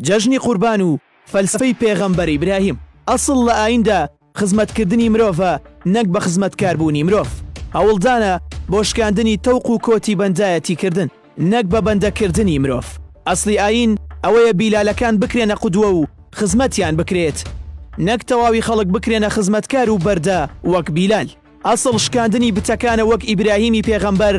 جەژنی قوربان و فەلسەفەی پێغەمبەر ئیبراهیم، ئەسڵ لە ئاییندا خزمەتکردنی مرۆڤە نەک بە خزمەتکاربوونی مرۆڤ. هەوڵدانە بۆ شکاندنی تەوق و کۆتی بەندایەتیکردن نەک بە بەندەکردنی مرۆڤ. ئەسڵی ئایین ئەوەیە بیلالەکان بکرێنە قودوە و خزمەتیان بکرێت نەک تەواوی خەڵک بکرێنە خزمەتکار و بەردە وەک بیلال. ئەسڵ شکاندنی بتەکانە وەک ئیبراهیمی پێغەمبەر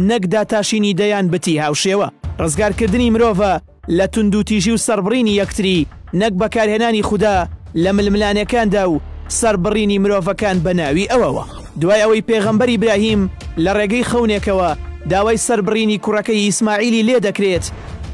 نەک داتاشینی دەیان بتی هاوشێوە ڕزگار کردنی مرۆڤە لە توندوتیژی و سەڕبڕینی یەکتری نەک بەکارهێنانی خودا لە ململانێکاندا و سەربڕینی مرۆڤەکان بە ناوی ئەوەوە دوای ئەوەی پێغەمبەر ئیبراهیم لە ڕێگەی خەونێکەوە داوای سەربڕینی کوڕەکەی ئیسماعیلی لێ دەکرێت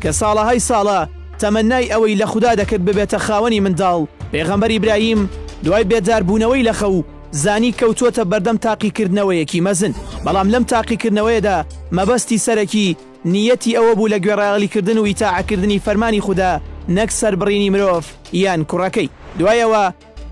کە ساڵەهای ساڵە تەمەنای ئەوەی لە خودا دەکرد ببێتە خاوەنی منداڵ پێغەمبەر ئیبراهیم دوای بێدار بوونەوەی لە خەو زانی کەوتووەتە بەردەم تاقیکردنەوەیەکی مەزن، بەڵام لەم تاقیکردنەوەیەدا مەبەستی سەرەکی، نییەتی ئەوە بوو لە گوێڕایەڵیکردن و ئیتاعەکردنی فەرمانی خودا نەک سەربڕینی مرۆڤ یان کوڕەکەی. دوای ئەوە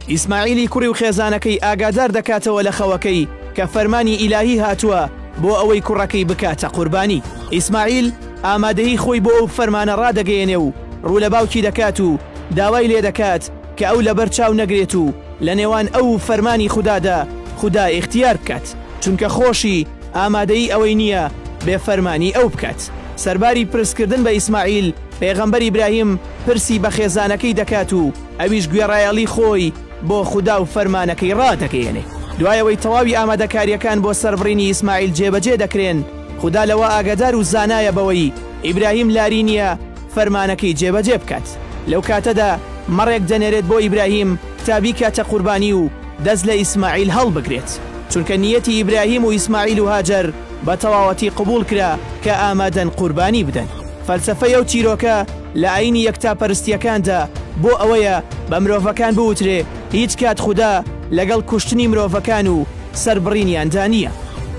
ئیسماعیلی کوڕی و خێزانەکەی ئاگادار دەکاتەوە لە خەوەکەی کە فەرمانی ئیلاهی هاتووە بۆ ئەوەی کوڕەکەی بکاتە قوربانی. ئیسماعیل ئامادەیی خۆی بۆ ئەو فەرمانە ڕادەگەیەنێ و ڕوو لە باوکی دەکات و داوای لێدەکات، کە ئەو لەبەر چاو نەگرێت و لە نێوان ئەو و فەرمانی خودادا خودا ئیختیار بکات، چونکە خۆشی ئامادەی ئەوەی نییە بێ فەرمانی ئەو بکات. سەرباری پرس کردن بە ئیسماعیل، پێغەمبەر ئیبراهیم پرسی بە خێزانەکەی دەکات و ئەویش گوێڕایەڵی خۆی بۆ خودا و فەرمانەکەی ڕادەگەیەنێ. دوای ئەوەی تەواوی ئامادەکارییەکان بۆ سەربڕینی ئیسماعیل جێبەجێ دەکرێن، خودا لەوە ئاگادار و زانایە بەوەی ئیبراهیم لاری نییە، فەرمانەکەی جێبەجێ بکات. لەو کاتەدا مەڕێک دەنێرێت بۆ ئیبراهیم تا بیکاتە قوربانی و دەست لە ئیسماعیل هەڵبگرێت، چونکە نیەتی ئیبراهیم و ئیسماعیل و هاجەر بە تەواوەتی قبوڵ کرا کە ئامادەن قوربانی بدەن. فەلسەفەی ئەو چیرۆکە لە ئایینی یەکتاپەرستییەکاندا بۆ ئەوەیە بە مرۆڤەکان بوترێ هیچ کات خودا لەگەڵ کوشتنی مرۆڤەکان و سەربڕینیان دا نییە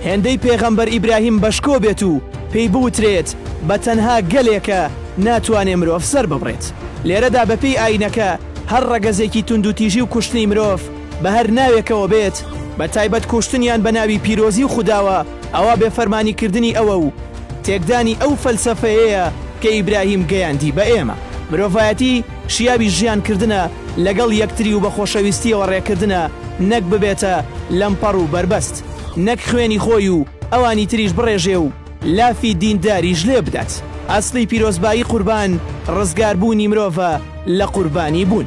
هێندەی پێغەمبەر ئیبراهیم بەشکۆ بێت و پێی بوترێت بە تەنها گەلێکە ناتوانێ مرۆڤ سەرببڕێت لێرەدا بە پێی ئاینەکە هەر ڕەگەزێکی توندوتیژی و کوشتنی مرۆڤ بە هەر ناوێکەوە بێت بە تایبەت کوشتنیان بە ناوی پیرۆزی و خوداوە ئەوا بێ فەرمانی کردنی ئەوە و تێکدانی ئەو فەلسەفەیەیە کە ئیبراهیم گەیاندی بە ئێمە. مرۆڤایەتی. شیاوی ژیان کردنە لەگەڵ یەکتری و بە خۆشەویستیەوە ڕێکردنە نەک ببێتە لەمپەڕ و بەربەست نەک خوێنی خۆی و ئەوانی تریش بڕێژێ و لافی دین داریش لێ بدات ئەسڵی پیرۆزبایی قوربان ڕزگار بوونی مرۆڤە لە قوربانی بوون.